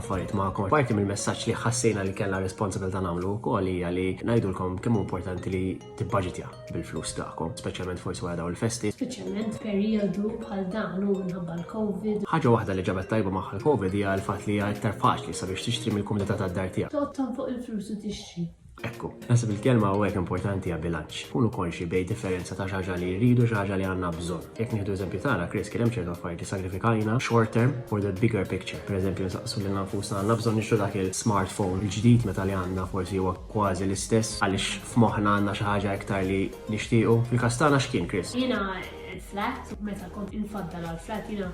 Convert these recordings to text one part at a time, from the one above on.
affarijiet magħkom. Parti mill-messaġġ li ħassejna li kellha responsabilità nagħmlu wkoll hija li ngħidulkom kemm hu importanti li tibbaġitja bil-flus tagħkom, speċjalment forsi wara dawn il-festi. Speċjalment f'perjodu bħal dan u minħabba l-COVID. Ħaġa waħda li ġabet tajba magħha l-COVID hija l-fatt li hija iktar faċli sabiex tixtri mill-kumdità tad-dar tiegħek. Toqgħod tonfoq il-flus u tixtri. Ekku, naħseb il-kelma hawnhekk importanti hija bilanċ. Kunu konxi bejn differenza ta' xi ħaġa li rridu u xi ħaġa li għandna bżonn. Jekk nieħdu eżempju tagħna, Chris, kien hemm ċertu affarijiet li sagrifikajna short term for the bigger picture. Pereżempju, nsaqsu lilna nfusna, għandna bżonn nixtru dak il-smartphone il-ġdid meta li għandna forsi huwa kważi l-istess għaliex f'moħħna għandna xi ħaġa iktar li nixtiequ? Fil-każ tagħna x'kien, Chris? Jiena l-flat, meta kont infaddal għall-flat jiena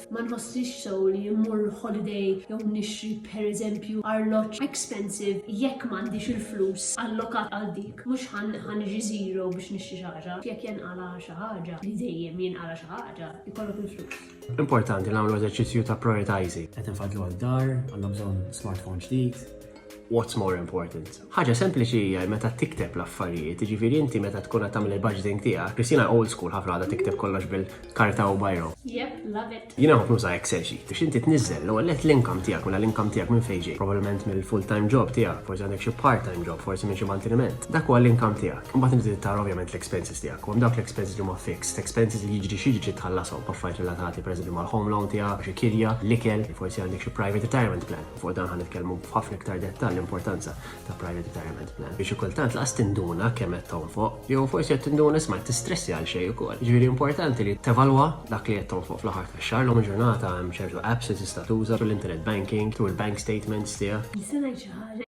Ma nħossix sew li mmur holiday jew nixtri pereżempju arloġġ expensive jekk m'għandix il-flus allokat għal dik. Mhux ħa niġi zero biex nixtri xi ħaġa. Jekk jenqala' xi ħaġa, li dejjem jinqala' xi ħaġa, ikollok il-flus. Importanti li nagħmlu eżerċizzju ta' prioritizing. Qed infadlu għal dar, għandna bżonn smartphone ġdid, What's more important? Ħaġa sempliċi hija meta tikteb l-affarijiet, jiġifieri inti meta tkun qed tagħmel il-budgeting tiegħek, Kristina old school ħafna għadha tikteb kollox bil-karta u bajro. Yep, love it. Jiena nħobb nuża Excel sheet biex inti tniżżel l-ewwel net l-income tiegħek mela l-income tiegħek minn fejn ġej. Probabbilment mill-full time job tiegħek, forsi għandek xi part time job, forsi minn xi manteniment. Dak huwa l-income tiegħek. Imbagħad inti tara ovvjament l-expenses tiegħek. Hemm dawk l-expenses li huma fixed, expenses li jiġri xi jiġri tħallasom, affarijiet relatati pereżempju mal-home loan tiegħek, xi kirja, l-ikel, forsi għandek xi private retirement plan. u fuq dan ħa nitkellmu b'ħafna iktar dettall l-importanza ta' Private Retirement Plan. Biex kultant laqas tinduna kemm qed tonfoq, jew forsi qed tinduna isma' qed tistressi għal xejn ukoll. Ġifieri importanti li tevalwa dak li qed tonfoq fl-aħħar tax-xahar lum il-ġurnata hemm ċertu apps li tista' tuża thru l-internet banking, thru l-bank statements tiegħek. Is-sena jċaħħad.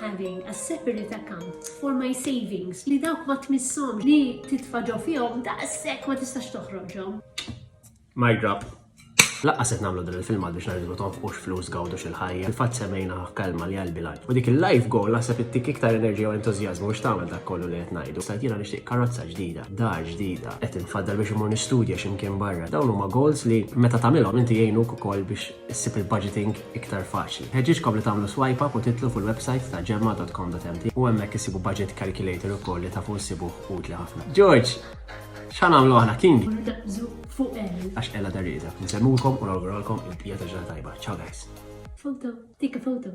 having a separate account for my savings li dawk ma tmissom li titfa ġo fihom daqshekk ma tistax toħroġhom. My drop. Laqqa set namlu din il-filma biex naridu tonfqux flus gawdu xil-ħajja. Il-fat semejna kelma li għalbi lajf. U dik il-life goal nasab ittik iktar enerġija u entuzjazmu biex tagħmel dak kollu li qed ngħidu. Stajt jiena nixtieq karozza ġdida, dar ġdida, qed infaddal biex imur nistudja x'imkien barra. Dawn huma goals li meta tagħmilhom inti jgħinuk ukoll biex issib il-budgeting iktar faċli. Nħeġġiġkom li tagħmlu swipe up u tidħlu fil-websajt ta' Gemma dot com dot mt u hemmhekk issibu budget calculator ukoll li tafu ssibuh utli ħafna. George! X'ħa nagħmlu aħna king? Nitaqbżu fuq L. Għax Ella dar rieda. Nsemmulkom u nawguralkom il-bqija ta' ġurnata tajba. Ciao guys! Photo, take a photo.